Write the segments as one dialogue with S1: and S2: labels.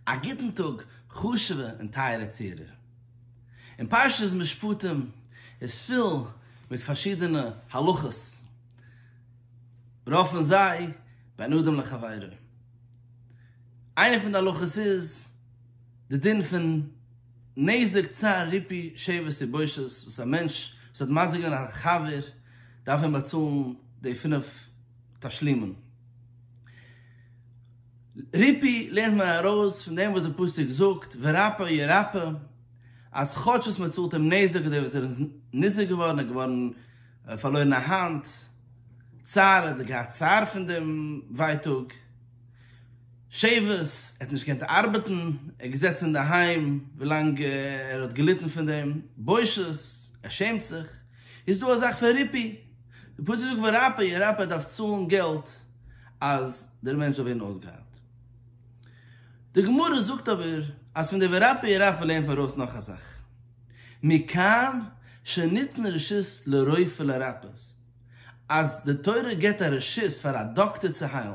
S1: א גוטן טאג חשוב'ע און טייערע צוהערער. אין פרשת משפטים איז פול מיט פארשידענע הלכות, רוב פון זיי בין אדם לחבירו. איינע פון די הלכות איז די דין פון נזק צער ריפוי שוברת יבשות, וואס א מענטש וואס האט מזיק געווען א חבר דארף אים באצאלן די פינף תשלימין. ריפי לערנט מען ארויס פון דעם וואס די פסוק זאגט ורפא ירפא, אז כאטש וואס מען צאלט אים נזק אדער וואס ער איז ניזוק געווארן, ער איז געווארן פארלוירן א האנט, צער האט ער געהאט צער פון דעם ווייטאג, שעבוד, ער האט נישט געקענט ארבעטן, ער איז געזעצן אינדערהיים ווילאנג ער האט געליטן פון דעם, בושות, ער שעמט זיך, איז דא א זאך פון ריפי, די פסוק זאגט ורפא ירפא, ער דארף צאלן געלט. אז דער מענטש זאל ווערן אויסגעהיילט. די גמרא זאגט אבער אז פון די ורפא ירפא לערנט מען ארויס נאך א זאך, מכאן שניתנה רשות לרופא לרפות, אז די תורה געבט א רשות פאר א דאקטער צו היילן,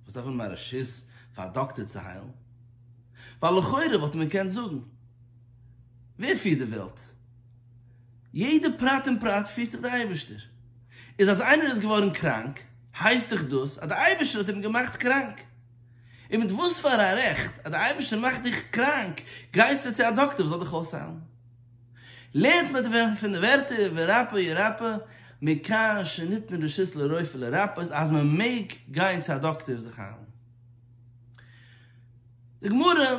S1: וואס דארף מען א רשות פאר א דאקטער צו היילן? ווייל לכאורה וואלט מען געקענט זאגן, ווער פירט די וועלט? יעדע פרט און פרט פירט דיך דער אייבערשטער. איז אז איינער איז געווארן קראנק, הייסט דאך דאס אז דער אייבערשטער האט אים געמאכט קראנק. און מיט וואס פאר א רעכט אז דער אייבערשטער מאכט דיך קראנק, גייסטו צו א דאקטער וואס זאל דיך אויסהיילן? לערנט מען דערפון פון די ווערטער ורפא ירפא, מכאן שניתנה רשות לרופא לרפות אז מען מעג גיין צו א דאקטער זיך היילן. די גמרא.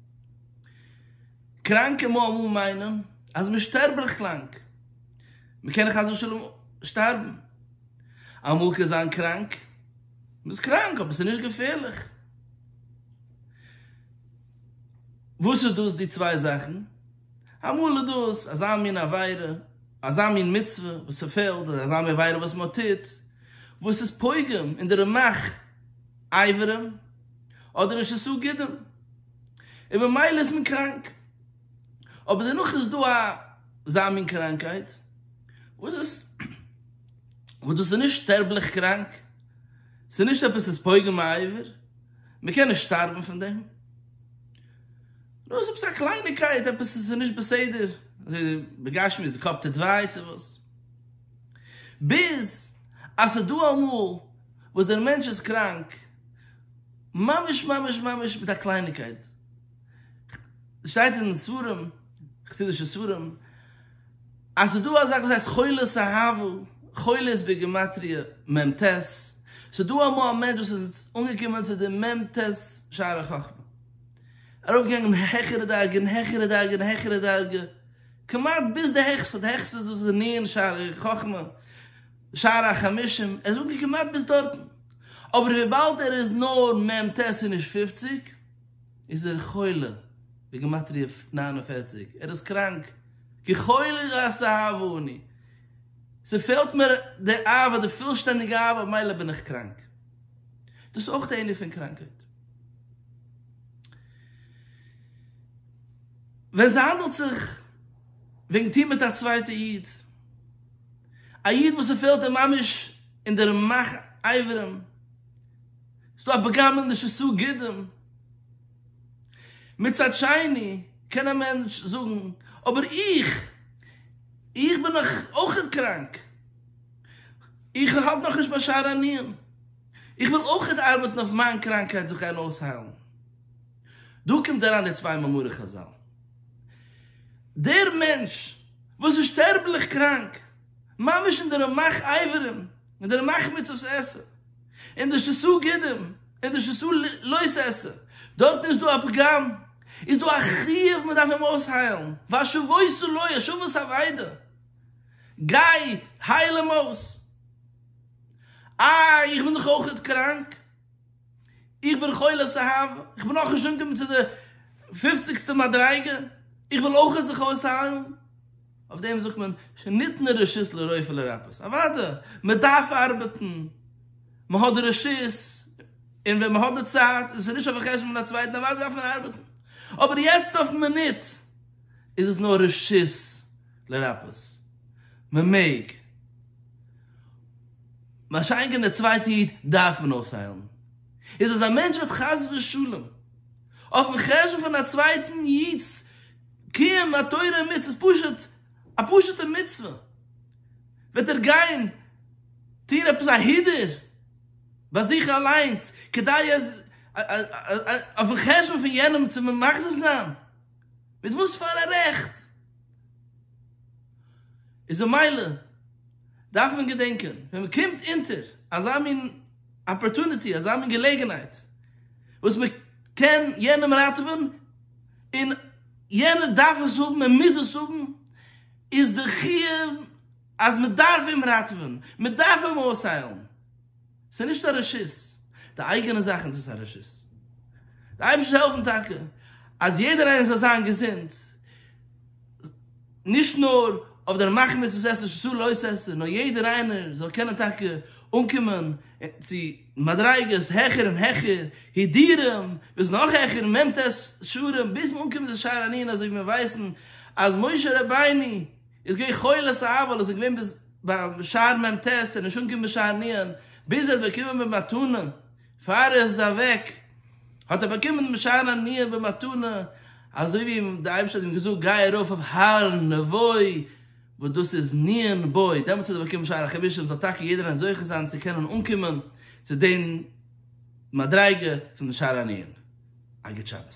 S1: קראנקע מאמען מיינען אז מען שטערבליך קראנק, מען קען חס ושלום שטארבן, אמאל קען זיין קראנק, מען איז קראנק אבער עס איז נישט געפערליך, וואס איז דאס די צוויי זאכן? אמאל איז דאס אזא מין עבירה, אזא מין מצוה וואס ס'פעלט, אדער אזא מין עבירה וואס מען טוט, וואס איז פוגם אין די רמח איברים, אדער נישט עשו גידים און ממילא איז מען קראנק, אבער דערנאך איז דא אזא מין קראנקייט וואס איז וואס דאס איז נישט שטערבליך קראנק, ס'איז נישט עפעס ס'איז פוגם העבר, מ'קען נישט שטארבן פון דעם, נאר ס'איז עפעס א קלייניקייט, עפעס ס'איז נישט בסדר, אזוי בגשמיות, די קאפ טוט וויי צו וואס, ביז אז ס'איז דא אמאל וואס דער מענטש איז קראנק. ממש ממש ממש מיט א קלייניקייט, שטייט אין ספרים, חסידישע ספרים, אז ס'איז דא א זאך וואס הייסט חולת אהבה, חולה איז בגימטריא מ ט, ס'איז דא אמאל א מענטש וואס איז אנגעקומען צו די מ ט שער החכמה, ארויפגעגאנגען העכערע דרגה און העכערע דרגה און העכערע דרגה, כמעט ביז די העכסטע, די העכסטע איז דאס איז נירן שער החכמה, שער החמישים, ער איז אנגעקומען כמעט ביז דארטן, אבער וויבאלד ער איז נאר מ ט און נישט פופציג, איז ער חולה, בגימטריא נײַן און פֿערציק, ער איז קראנק, כי חולי גסהב אני, ס'פעלט מיר די אהבה, די פולשטענדיגע אהבה, ממילא בין איך קראנק. דאס איז אויך די ענין פון קראנקהייט. ווען ס'האנדלט זיך וועגן טון מיט א צווייטע איד. א איד וואס ס'פעלט אים ממש אין די רמח אברים, ס'איז דא א פגם אין די ש ס גידים, מצד שני קען א מענטש זאגן אבער איך, איך בין נאך אויכעט קראנק, איך האלט נאכנישט ביי שער הענין, איך וויל אויכעט ארבעטן אויף מיין קראנקהייט זיך גיין אויסהיילן. דא קומט אריין די צוויי מאמרי חזל. דער מענטש וואס איז שטערבליך קראנק, ממש אין די רמח אייברים, אין די רמח מצות עשה, אין די ש ס גידים, אין די ש ס לוית עשה, דארטן איז דא א פגם, איז דא א חיוב מען דארף אים אויסהיילן, והשובו ס לו, השבה ס אבידה, גיי הייל אים אויס. איי איך בין דאך אויכעט קראנק. איך בין חולת אהבה, איך בין נאך נישט אנגעקומען צו די פופציגסטע מדריגה, איך וויל אויכעט זיך אויסהיילן, אויף דעם זאגט מען שניתנה רשות לרופא לרפות, אוודאי מען דארף ארבעטן, מען האט די רשות און ווען מען האט די צייט און עס איז נישט אויף חשבון פון א צווייטן אוודאי דארף מען ארבעטן, אבער יעצט אויפן מינוט איז עס נאר רשות לרפות. מען מעג. מה שאין כן דער צווייטער איד דארף מען אויסהיילן. איז אז א מענטש וועט חס ושלום אויפן חשבון פון א צווייטן איד'ס קיום א תורה און מצוות, פשוט א פשוט'ע מצוה, וועט ער גיין טון עפעס א הידור ביי זיך אליינס כדי אז אויפן חשבון פון יענעם צו מחזיר זיין? מיט וואס פארא רעכט? איז ממילא דארף מען געדענקען ווען מען קומט אונטער אזא מין אפערטוניטי, אזא מין געלעגנהייט וואס מען קען יענעם ראטעווען און יענער דארף עס האבן, ער מוז עס האבן, איז די חיוב אז מען דארף אים ראטעווען, מען דארף אים אויסהיילן. ס'איז נישט א רשות. די אייגענע זאכן איז עס א רשות. די אייבערשטער העלפן טאקע אז יעדער איינער זאל זיין געזונט, נישט נאר אויף דער מחמת וואס עס איז ששא לא ששא, נאר יעדער איינער זאל קענען טאקע אנקומען צו מדריגות העכער און העכער, הידורים ביז נאך העכער, מ ט שערים, ביז מען אנקומט אין שער הענן אזוי ווי מיר ווייסן אז משה רבינו, איז געווען חולה ס ה ווייל עס איז געווען ביז ביי שער מ ט און נישט אנגעקומען ביז שער נ י, ביז ער האט באקומען במתנה, פאר ער איז אוועק האט ער באקומען בשער ה נ י במתנה, אזוי ווי די אייבערשטער האט אים געזאגט גיי ארויף אויף הר נבוי וואס דאס איז נ י נבוי, דעמאלטס האט ער באקומען שער החמישים, זאל טאקע יעדער איינער זוכה זיין צו קענען אנקומען צו די מדריגה פון שער ה נ י, א גוט שבת.